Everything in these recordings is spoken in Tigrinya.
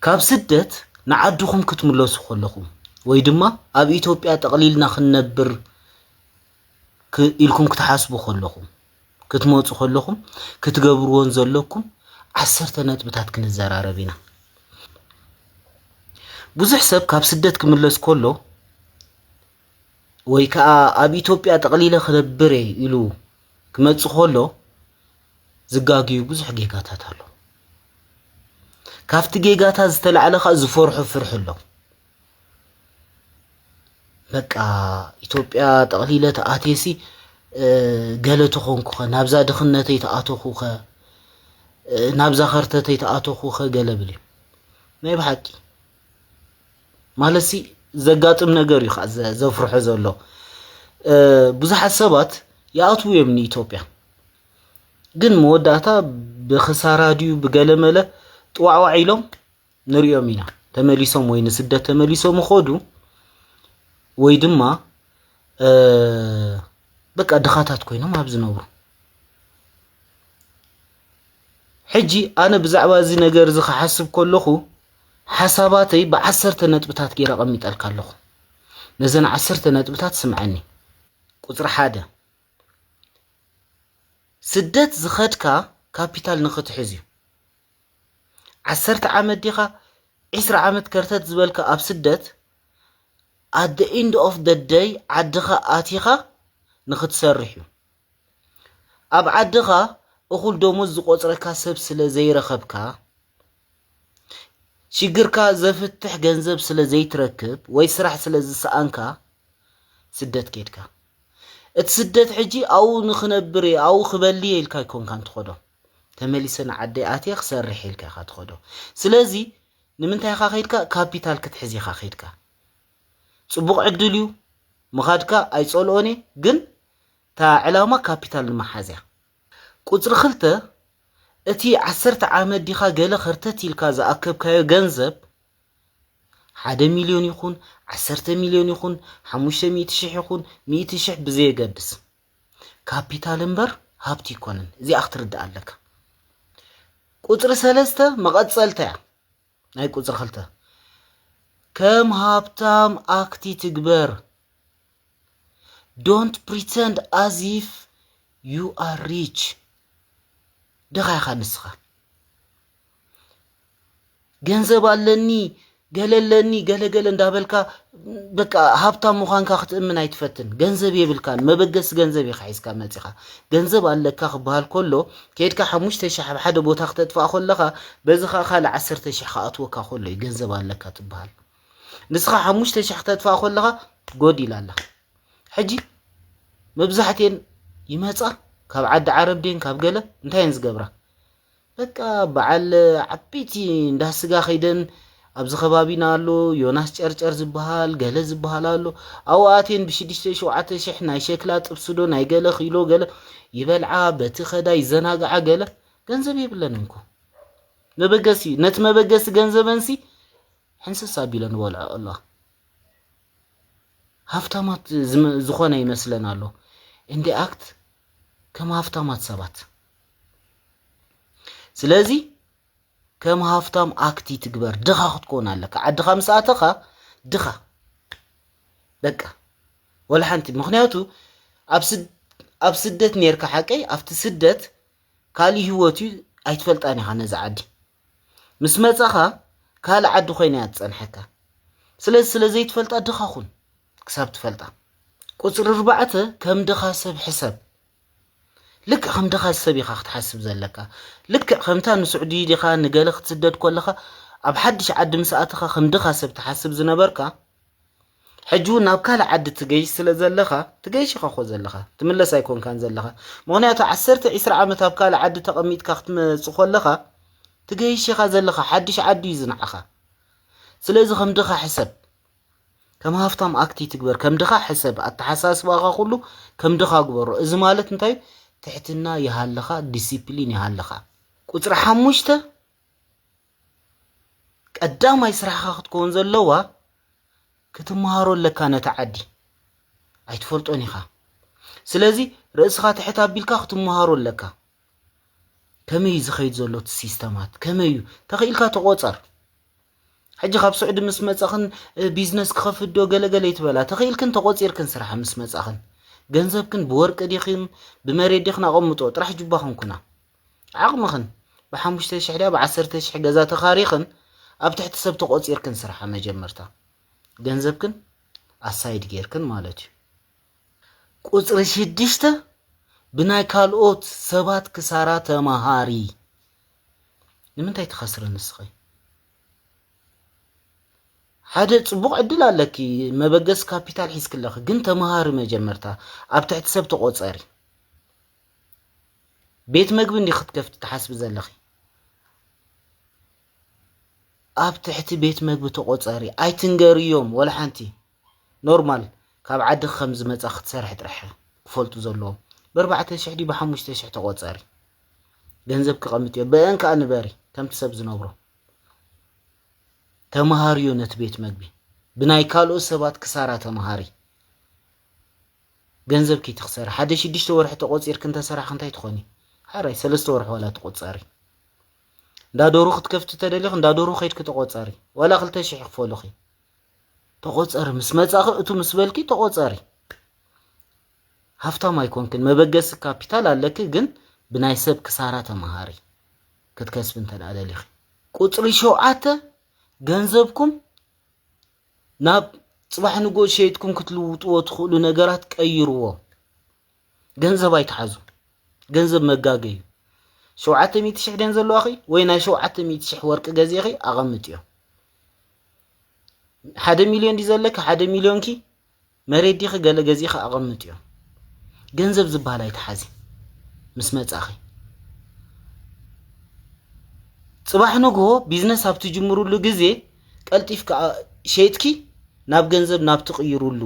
ካብ ስደት ንዓድኹም ክትምለሱ ከለኹም ወይ ድማ ኣብ ኢትዮጵያ ጠቕሊልና ክንነብር ኢልኩም ክትሓስቡ ከለኹም ክትመፁ ከለኹም ክትገብርዎን ዘለኩም ዓሰርተ ነጥብታት ክንዘራረብ ኢና። ብዙሕ ሰብ ካብ ስደት ክምለስ ከሎ ወይ ከዓ ኣብ ኢትዮጵያ ጠቕሊለ ክነብር እየ ኢሉ ክመፅእ ከሎ ዝጋግዩ ብዙሕ ጌጋታት ኣሎ ካብቲ ጌጋታት ዝተላዕለ ከዓ ዝፈርሑ ፍርሒ ኣሎ በቃ ኢትዮጵያ ጠቕሊለ ተኣትየሲ ገለ ተኾንኩ ኸ ናብዛ ድኽነተይ ተኣተኹ ኸ ናብዛ ኸርተተይ ተኣተኹ ኸ ገለ ብል እዩ ናይ ብሓቂ ማለትሲ ዘጋጥም ነገር እዩ ከዓ ዘፍርሖ ዘሎ ብዙሓት ሰባት ይኣትዉ እዮም ንኢትዮጵያ ግን መወዳእታ ብክሳራ ድዩ ብገለመለ ጥዋዕዋዕ ኢሎም ንሪኦም ኢና ተመሊሶም ወይ ንስደት ተመሊሶም ይኸዱ ወይ ድማ በቃ ድኻታት ኮይኖም ኣብ ዝነብሩ ሕጂ ኣነ ብዛዕባ እዚ ነገር እዚ ክሓስብ ከለኹ ሓሳባተይ ብዓሰርተ ነጥብታት ገይረ ቀሚጠልካ ኣለኹ ነዘን ዓሰርተ ነጥብታት ስምዐኒ ቁፅሪ ሓደ ስደት ዝኸድካ ካፒታል ንኽትሕዝ እዩ ዓሰርተ ዓመት ዲኻ ዒስራ ዓመት ከርተት ዝበልካ ኣብ ስደት ኣት ደ ኢንድ ኦፍ ደ ደይ ዓድኻ ኣቲኻ ንኽትሰርሕ እዩ ኣብ ዓድኻ እኹል ደሞዝ ዝቆፅረካ ሰብ ስለ ዘይረኸብካ ሽግርካ ዘፍትሕ ገንዘብ ስለ ዘይትረክብ ወይ ስራሕ ስለ ዝሰኣንካ ስደት ኬድካ እቲ ስደት ሕጂ ኣብኡ ንኽነብር እየ ኣብኡ ክበሊ እየ ኢልካ ኣይኮንካን ትኸዶ ተመሊሰ ንዓደይ ኣትየ ክሰርሕ ኢልካ ኢኻ ትኸዶ ስለዚ ንምንታይ ኢኻ ከይድካ ካፒታል ክትሕዝ ኢኻ ከይድካ ፅቡቕ ዕድል እዩ ምኻድካ ኣይፀልኦን እየ ግን እታ ዕላማ ካፒታል ንምሓዝ እያ ቁጽሪ ክልተ፣ እቲ ዓሰርተ ዓመት ዲኻ ገለ ከርተት ኢልካ ዝኣከብካዮ ገንዘብ፣ ሓደ ሚልዮን ይኹን ዓሰርተ ሚልዮን ይኹን ሓሙሽተ ሚእቲ ሽሕ ይኹን ሚእቲ ሽሕ ብዘየገድስ፣ ካፒታል እምበር ሃብቲ ኣይኮነን። እዚኣ ክትርዳእ ኣለካ። ቁጽሪ ሰለስተ መቐጸልታ እያ ናይ ቁጽሪ ክልተ። ከም ሃብታም ኣክት ይትግበር። ዶንት ፕሪተንድ ኣዝ ኢፍ ዩ ኣር ሪች ድኻ ኢኻ ንስኻ ገንዘብ ኣለኒ ገለ ኣለኒ ገለ ገለ እንዳበልካ በቃ ሃብታም ምዃንካ ክትእምን ኣይትፈትን ገንዘብ የብልካን መበገሲ ገንዘብ ኢኻ ሒዝካ መፂኻ ገንዘብ ኣለካ ክበሃል ከሎ ከድካ ሓሙሽተ ሽሕ ኣብ ሓደ ቦታ ክተጥፋእ ከለኻ በዚ ከዓ ካልእ ዓሰርተ ሽሕ ክኣትወካ ከሎ እዩ ገንዘብ ኣለካ ትበሃል ንስኻ ሓሙሽተ ሽሕ ክተጥፋእ ከለኻ ጎድ ኢላ ኣለኻ ሕጂ መብዛሕትኤን ይመፃ ካብ ዓዲ ዓረብ ድን ካብ ገለ እንታይ እየን ዝገብራ በቃ በዓል ዓበይቲ እንዳ ስጋ ከይደን ኣብዚ ከባቢና ኣሎ ዮናስ ጨርጨር ዝበሃል ገለ ዝበሃል ኣሎ ኣብኡ ኣትየን ብሽዱሽተ ሸውዓተ ሽሕ ናይ ሸክላ ጥብስዶ ናይ ገለ ኪሎ ገለ ይበልዓ በቲ ከዳ ይዘናግዓ ገለ ገንዘብ የብለንን እኮ መበገሲ ነቲ መበገሲ ገንዘበንሲ ሕንስስ ኣቢለ ንበልዖ ኣሎ ሃፍታማት ዝኾነ ይመስለን ኣሎ እንዲ ኣክት ከም ሃፍታማት ሰባት ስለዚ ከም ሃፍታም ኣክቲ ትግበር ድኻ ክትኮን ኣለካ ዓድኻ ምስ ኣተኻ ድኻ በቃ ወላ ሓንቲ ምክንያቱ ኣብ ስደት ነርካ ሓቀይ ኣብቲ ስደት ካልእ ህይወት እዩ ኣይትፈልጣን ኢኻ ነዚ ዓዲ ምስ መጻኻ ካልእ ዓዲ ኮይና እያ ትጸንሐካ ስለዚ ስለ ዘይትፈልጣ ድኻ ኹን ክሳብ ትፈልጣ ቁፅሪ ኣርባዕተ ከም ድኻ ሰብ ሕሰብ ልክዕ ከም ድኻ ሰብ ኢኻ ክትሓስብ ዘለካ ልክዕ ከምታ ንስዑዲ ዲኻ ንገለ ክትስደድ ኮለኻ ኣብ ሓድሽ ዓዲ ምስ ኣተኻ ከም ድኻ ሰብ ትሓስብ ዝነበርካ ሕጂ ውን ናብ ካልእ ዓዲ ትገይሽ ስለ ዘለኻ ትገይሽ ኢኻ ኮ ዘለኻ ትምለስ ኣይኮንካን ዘለኻ ምክንያቱ ዓሰርተ ዒስራ ዓመት ኣብ ካልእ ዓዲ ተቐሚጥካ ክትመጽእ ኮለኻ ትገይሽ ኢኻ ዘለኻ ሓድሽ ዓዲ እዩ ዝንዓኻ ስለዚ ከም ድኻ ሕሰብ ከም ሃፍታም ኣክቲ ትግበር ከም ድኻ ሕሰብ ኣተሓሳስባኻ ኩሉ ከም ድኻ ግበሮ እዚ ማለት እንታይ ትሕትና ይሃልኻ ዲሲፕሊን ይሃልኻ ቁጽሪ ሓሙሽተ ቀዳማይ ስራሕኻ ክትከውን ዘለዋ ክትመሃሮ ኣለካ ነቲ ዓዲ ኣይትፈልጦን ኢኻ ስለዚ ርእስኻ ትሕት ኣቢልካ ክትመሃሮ ኣለካ ከመይ እዩ ዝኸይድ ዘሎ እቲ ሲስተማት ከመይ እዩ ተኽኢልካ ተቆፀር ሕጂ ካብ ስዑዲ ምስ መፃኽን ቢዝነስ ክኸፍት ዶ ገለገለ ይትበላ ተኽኢልክን ተቆፂርክን ስራሕ ምስ መፃኽን ገንዘብክን ብወርቂ ዲኽን ብመሬት ዲኽን ኣቐምጦ ጥራሕ ጅባኽን ኩና ዓቕምኽን ብሓሙሽተ ሽሕ ድያ ብዓሰርተ ሽሕ ገዛ ተኻሪኽን ኣብ ትሕቲ ሰብ ተቖፂርክን ስርሓ መጀመርታ ገንዘብክን ኣሳይድ ጌርክን ማለት እዩ ቁፅሪ ሽድሽተ ብናይ ካልኦት ሰባት ክሳራ ተመሃሪ ንምንታይ ትኸስሪ ንስኸይ ሓደ ፅቡቕ ዕድል ኣለኪ መበገስ ካፒታል ሒዝክለኺ ግን ተምሃሪ መጀመርታ ኣብ ትሕቲ ሰብ ተቖፀሪ ቤት መግቢ እንዲ ክትከፍቲ ትሓስቢ ዘለኺ ኣብ ትሕቲ ቤት መግቢ ተቆፀሪ ኣይትንገርዮም ወላ ሓንቲ ኖርማል ካብ ዓድኺ ከም ዝመፃ ክትሰርሒ ጥራሕ ክፈልጡ ዘለዎም ብኣርባዕተ ሽሕ ዲ ብሓሙሽተ ሽሕ ተቆፀሪ ገንዘብ ክቐምጥ እዮ ብአን ከዓ ንበሪ ከምቲ ሰብ ዝነብሮ ተምሃርዮ ነቲ ቤት መግቢ ብናይ ካልኦት ሰባት ክሳራ ተምሃሪ ገንዘብ ኪይ ትክሰሪ ሓደ ሽዱሽተ ወርሒ ተቆጺርኪ እንተ ሰራሕኪ እንታይ ትኮኒ ሓራይ ሰለስተ ወርሒ ዋላ ተቆጻሪ እንዳ ዶሩ ክትከፍቲ ተደሊኺ እንዳ ዶሩ ከይድኪ ተቆጻሪ ዋላ ክልተ ሽሕ ክፈሉኺ ተቆጸሪ ምስ መጻኺ እቱ ምስ በልኪ ተቆጸሪ ሃፍታም ኣይኮንክን መበገሲ ካፒታል ኣለኪ ግን ብናይ ሰብ ክሳራ ተመሃሪ ክትከስቢ እንተ ደሊኺ ቁፅሪ ሸውዓተ ገንዘብኩም ናብ ጽባሕ ንግሆ ሸይጥኩም ክትልውጥዎ ትኽእሉ ነገራት ቀይርዎ። ገንዘብ ኣይትሓዙ። ገንዘብ መጋገ እዩ። ሸውዓተ ሚእቲ ሽሕ ደን ዘለዋኺ ወይ ናይ ሸውዓተ ሚእቲ ሽሕ ወርቂ ገዜኺ ኣቐምጥዮ። ሓደ ሚልዮን ዲ ዘለኪ ሓደ ሚልዮንኪ መሬት ዲኺ ገለ ገዚእኺ ኣቐምጥዮ። ገንዘብ ዝበሃል ኣይትሓዚ ምስ መጻኺ። ጽባሕ ንግሆ ቢዝነስ ኣብ ትጅምሩሉ ግዜ ቀልጢፍካ ሸይጥኪ ናብ ገንዘብ ናብ ትቕይሩሉ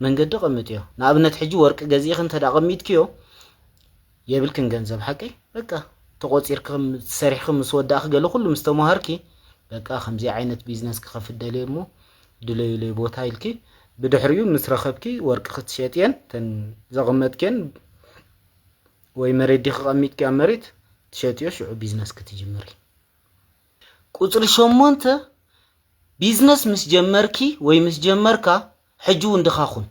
መንገዲ ቐምጥዮ። ንኣብነት ሕጂ ወርቂ ገዚእኺ እንተ ኣቐሚጥክዮ የብልክን ገንዘብ ሓቂ በቃ ተቆጺርኪ ከም ሰሪሕኺ ምስ ወዳእኺ ገለ ኩሉ ምስ ተማሃርኪ በቃ ከምዚ ዓይነት ቢዝነስ ክኸፍት ደልየ እሞ ድለዩለይ ቦታ ኢልኪ ብድሕሪኡ ምስ ረኸብኪ ወርቂ ክትሸጥየን ተን ዘቐመጥክየን ወይ መሬት ዲኺ ቀሚጥኪ ኣብ መሬት ትሸጥዮ ሽዑ ቢዝነስ ክትጅምሪ ቁፅሪ ሸሞንተ ቢዝነስ ምስ ጀመርኪ ወይ ምስ ጀመርካ ሕጂ እውን ድኻ ኩን።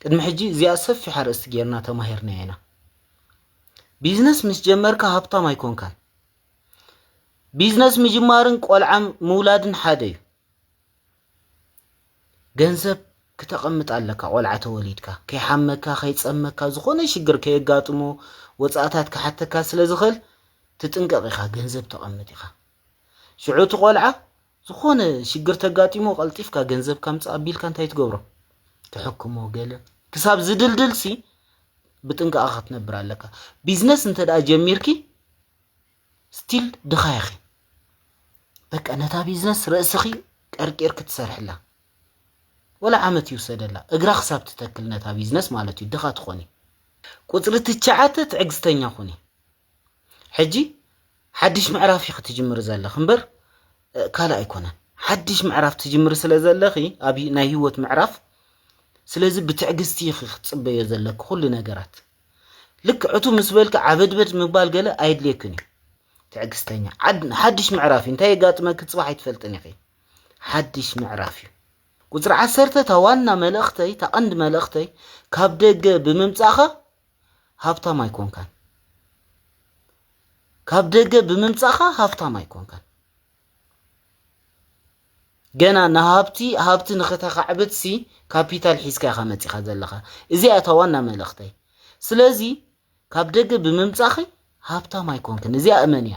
ቅድሚ ሕጂ እዚኣ ሰፊሕ ኣርእስቲ ጌርና ተማሂርናያ ኢና። ቢዝነስ ምስ ጀመርካ ሃብታም ኣይኮንካን። ቢዝነስ ምጅማርን ቆልዓ ምውላድን ሓደ እዩ። ገንዘብ ክተቐምጥ ኣለካ ቆልዓ ተወሊድካ ከይሓመካ ከይፀመካ ዝኾነ ሽግር ከየጋጥሞ ወፃእታት ክሓተካ ስለ ዝኽእል ትጥንቀቕ ኢኻ ገንዘብ ተቐምጥ ኢኻ ሽዑ እቲ ቆልዓ ዝኾነ ሽግር ተጋጢሞ ቀልጢፍካ ገንዘብ ካምጽእ ኣቢልካ እንታይ ትገብሮ ትሕክሞ ገለ ክሳብ ዝድልድል ሲ ብጥንቃቐ ክትነብር ኣለካ ቢዝነስ እንተ ደኣ ጀሚርኪ ስቲል ድኻ ኢኺ በቃ ነታ ቢዝነስ ርእስኺ ቀርቂር ክትሰርሕላ ወላ ዓመት ይውሰደላ እግራ ክሳብ ትተክል ነታ ቢዝነስ ማለት እዩ ድኻ ትኾኒ ቁፅሪ ትሽዓተ ትዕግስተኛ ኩኒ ሕጂ ሓድሽ ምዕራፍ ኢኺ ትጅምሪ ዘለኺ እምበር ካልእ ኣይኮነን። ሓድሽ ምዕራፍ ትጅምሪ ስለ ዘለኺ ኣብ ናይ ህይወት ምዕራፍ ስለዚ ብትዕግስቲ ኢኺ ክትጽበዮ ዘለኪ ኩሉ ነገራት ልክዕ እቱ ምስ በልኪ ዓበድበድ ምባል ገለ ኣየድልየክን እዩ። ትዕግስተኛ ሓድሽ ምዕራፍ እዩ እንታይ የጋጥመኪ ፅባሕ ኣይትፈልጥን ኢኺ ሓድሽ ምዕራፍ እዩ ቁፅሪ ዓሰርተ እታ ዋና መልእኽተይ እታ ቀንዲ መልእኽተይ ካብ ደገ ብምምፃእኻ ሃብታም ኣይኮንካን ካብ ደገ ብምምጻኻ ሃብታም ኣይኮንካን ገና ንሃብቲ ሃብቲ ንኸተኻዕብት ሲ ካፒታል ሒዝካ ኢኻ መጺኻ ዘለኻ እዚኣ እታ ዋና መልእኽተይ ስለዚ ካብ ደገ ብምምጻኺ ሃብታም ኣይኮንክን እዚኣ እመን እያ